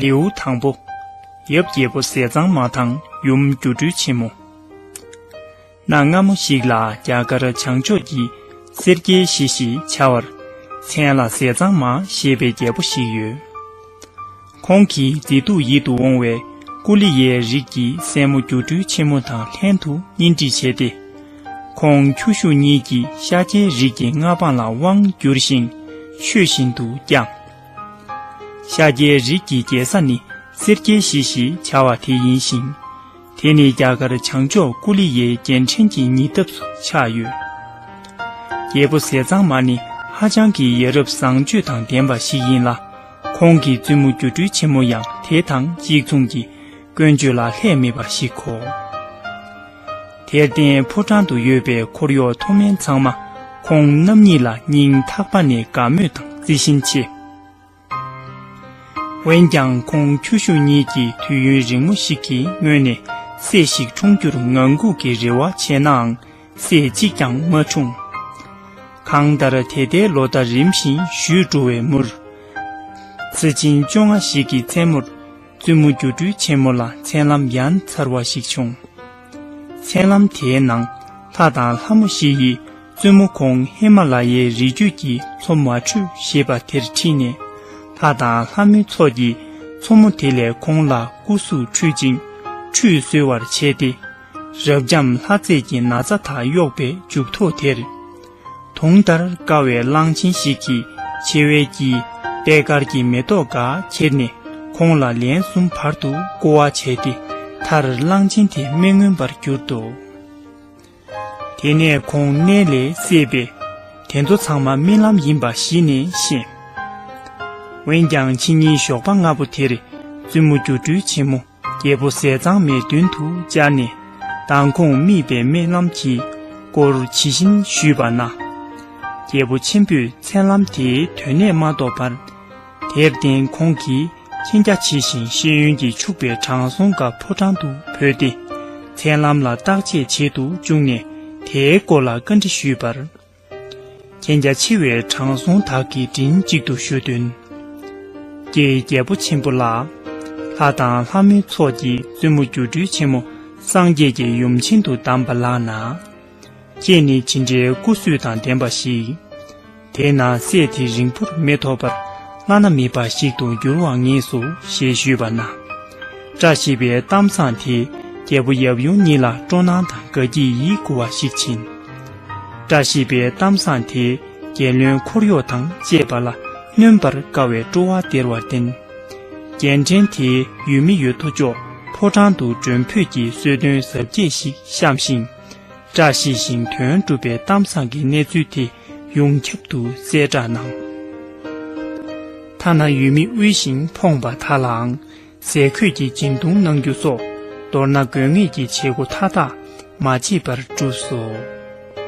ལེའུ་དང་པོ། ཡབ་རྒྱལ་པོ་ཟས་གཙང་མ་དང་ཡུམ་སྒྱུ་འཕྲུལ་ཆེན་མོ། གནའ་སྔ་མོ་ཞིག་ལ་རྒྱ་གར་བྱང་ཕྱོགས་ཀྱི་སེར་སྐྱའི་གཞི་ཞེས་བྱ་བར་མཚན་ལ་ཟས་གཙང་མ་ཞེས་པའི་རྒྱལ་པོ་ཞིག་ཡོད། ཁོང་གིས་མཛེས་སྡུག་ཡིད་དུ་འོང་བའི་ཀུ་ལི་ཡའི་རིགས་ཀྱི་སྲས་མོ་སྒྱུ་འཕྲུལ་ཆེན་མོ་དང་ལྷན་དུ་གཉེན་སྒྲིག་བྱས་ཏེ། ཁོང་ཁྱོ་ཤུག་གཉིས་ཀྱི་ཤཱཀྱའི་རིགས་ཀྱི་མངའ་འབངས་ལ་དབང་བསྒྱུར་ཞིང་ཆོས་བཞིན་དུ་བསྐྱངས། ཤཱཀྱའི་རིགས་ཀྱི་རྒྱལ་ས་ནི་སེར་སྐྱའི་གཞིས་ཞེས་བྱ་བ་དེ་ཡིན་ཞིང། དེ་ནི་རྒྱ་གར་བྱང་ཕྱོགས་ཀུ་ལི་ཡའི་རྒྱལ་ཕྲན་གྱི་ཉེ་འདབས་སུ་ཆགས་ཡོད། རྒྱལ་པོ་ཟས་གཙང་མ་ནི་ཧ་ཅང་གི་ཡ་རབས་བཟང་སྤྱོད་དང་ལྡན་པ་ཞིག་ཡིན་ལ། ཁོང་གི་བཙུན་མོ་སྒྱུ་འཕྲུལ་ཆེན་མོ་ཡང་དེ་དང་གཅིག་མཚུངས་ཀྱི་ཀུན་སྤྱོད་ལ་ལྷད་མེད་པར་གཞིག་གོ། དེར་བརྟེན་ཕོ་བྲང་དུ་ཡོད་པའི་འཁོར་གཡོག་མཐོ་དམན་ཚང་མ་ཁོང་རྣམ་གཉིས་ལ་སྙིང་ཐག་པ་ནས་དགའ་མོས་དང་བརྩི་བཞིན་མཆིས། འོན་ཀྱང་ཁོང་ཁྱོ་ཤུག་གཉིས་ཀྱིས་དུས་ཡུན་རིང་མོ་ཞིག་གི་སྔོན་ནས་སྲས་ཤིག་འཁྲུངས་རྒྱུར་ངང་སྒུག་གི་རེ་བ་བྱས་ནའང། སྲས་གཅིག་ཀྱང་མ་འཁྲུངས། གང་ལྟར་དེ་ལྟའི་ལོ་ཟླ་རིམ་བཞིན་བཞུད་འགྲོ་བའི་མུར། ཚེ་ཆེན་བཅོ་ལྔ་ཞིག་གི་མཚན་མོར་བཙུན་མོ་སྒྱུ་འཕྲུལ་ཆེན་མོ་ལ་མཚན་ལམ་ཡ་མཚར་བ་ཞིག་བྱུང། མཚན་ལམ་དེའི་ནང་ལྷ་དང་ལྷ་མོ་བཞི་ཡིས་བཙུན་མོ་ཁོང་ཧི་མ་ལ་ཡའི་རི་རྒྱུད་ཀྱི་མཚོ་མ་ཁྲུས་ཞེས་པ་དེར་ཁྲིད་ནས་ལྷ་དང་ལྷ་མོའི་ཚོགས་ཀྱིས་མཚོ་མོ་དེ་ལས་ཁོང་ལ་སྐུ་གཟུགས་འཁྲུད་ཅིང་ཁྲུས་གསོལ་བར་བྱས་ཏེ། རབ་འབྱམས་ལྷ་རྩེད་ཀྱི་ན་ཚ་དག་གཡོགས་པའི་མཇུག་ཐོགས་དེར། དུང་ལྟར་དཀར་བའི་གླང་ཆེན་ཞིག་གིས་མཆེ་བའི་དཀྱིལ་པད་དཀར་གྱི་མེ་ཏོག་འགའ་ཁྱེར་ནས་ཁོང་ལ་ལན་གསུམ་བར་དུ་བསྐོར་བ་བྱས་ཏེ་མཐར་གླང་ཆེན་དེ་མི་མངོན་པར་གྱུར་ཏོ། དེ་ནས་ཁོང་གནས་ལས་སད་པས་དེ་ཚོ་ཚང་མ་རྨི་ལམ་ཡིན་པ་གཞི་ནས་ཤེས། འོན་ཀྱང་ཕྱི་ཉིན་ཞོགས་པ་སྔ་པོ་དེར་བཙུན་མོ་སྒྱུ་འཕྲུལ་ཆེན་མོ་རྒྱལ་པོ་ཟས་གཙང་མའི་མདུན་དུ་བཅར་ནས་མདང་ཁོང་རྨིས་པའི་སྨོན་ལམ་གྱི་སྐོར་ཇི་བཞིན་ཞུས་པ་ན། རྒྱལ་པོ་ཆེན་པོས་མཚན་ལམ་དེའི་དོན་གནད་མ་རྟོགས་པར། དེར་བརྟེན་ཁོང་གིས་མཁྱེན་རྒྱ་ཆེ་ཞིང་ཤེས་ཡོན་གྱིས་ཕྱུག་པའི་དྲང་སྲོང་དགའ་ཕོ་བྲང་དུ་བོས་ཏེ། མཚན་ལམ་ལ་བརྟག་དཔྱད་བྱེད་དུ་བཅུག་ནས་དེའི་སྐོར་ལ་བཀའ་འདྲི་ཞུས་པར། གན་རྒྱ་ཆེ་བའི་དྲང་སྲོང་དག་གིས་མགྲིན་གཅིག་ཏུ་ཞུ་དོན། ཀྱེ་རྒྱལ་པོ་ཆེན་པོ་ལགས། ལྷ་དང་ལྷ་མོའི་ཚོགས་ཀྱིས་བཙུན་མོ་སྒྱུ་འཕྲུལ་ཆེན་མོ་སངས་རྒྱས་ཀྱི་ཡུམ་བྱིན་དུ་གདམས་པ་ལགས་ན། ཁྱེད་ནི་ཇི་འདྲའི་སྐུ་བསོད་དང་ལྡན་པ་ཞིག། དེས་ན་སྲས་དེ་རིང་པོར་མི་ཐོགས་པར་བླ་ན་མེད་པ་ཞིག་ཏུ་འགྱུར་བར་ངེས་སོ་ཞེས་ཞུས་པ་ན། བཀྲ་ཤིས་པའི་གཏམ་བཟང་དེས་རྒྱལ་པོ་ཡབ་ཡུམ་གཉིས་ལ་སྤྲོ་སྣང་དང་དགའ་སྐྱིད་ཡིད་མགུ་བ་ཞིག་བྱིན། བཀྲ་ཤིས་པའི་གཏམ་བཟང་དེས་རྒྱལ་བློན་འཁོར་གཡོག་དང་བཅས་པ་ལ་གནོན་པར་དཀའ་བའི་སྤྲོ་བ་སྟེར་བར་བརྟེན། རྒྱལ་ཕྲན་དེའི་ཡུལ་མི་ཡོད་དོ་ཅོག་ཕོ་བྲང་དུ་མགྲོན་འབོད་ཀྱི་གསོལ་སྟོན་གཟབ་རྒྱས་ཤིག་བཤམས་ཤིང། བཀྲ་ཤིས་ཤིང་དོན་འགྲུབ་པའི་གཏམ་བཟང་གི་གནས་ཚུལ་དེ་ཡོངས་ཁྱབ་ཏུ་གསལ་བསྒྲགས་གནང། ཐ་ན་ཡུལ་མི་དབུལ་ཞིང་ཕོངས་པ་དག་ལའང། ཟས་གོས་ཀྱི་སྦྱིན་གཏོང་གནང་རྒྱུ་སོགས་མདོར་ན་དགོས་ངེས་ཀྱི་བྱེད་སྒོ་མཐའ་དག་མ་བརྗེད་པར་བསྒྲུབས་སོ།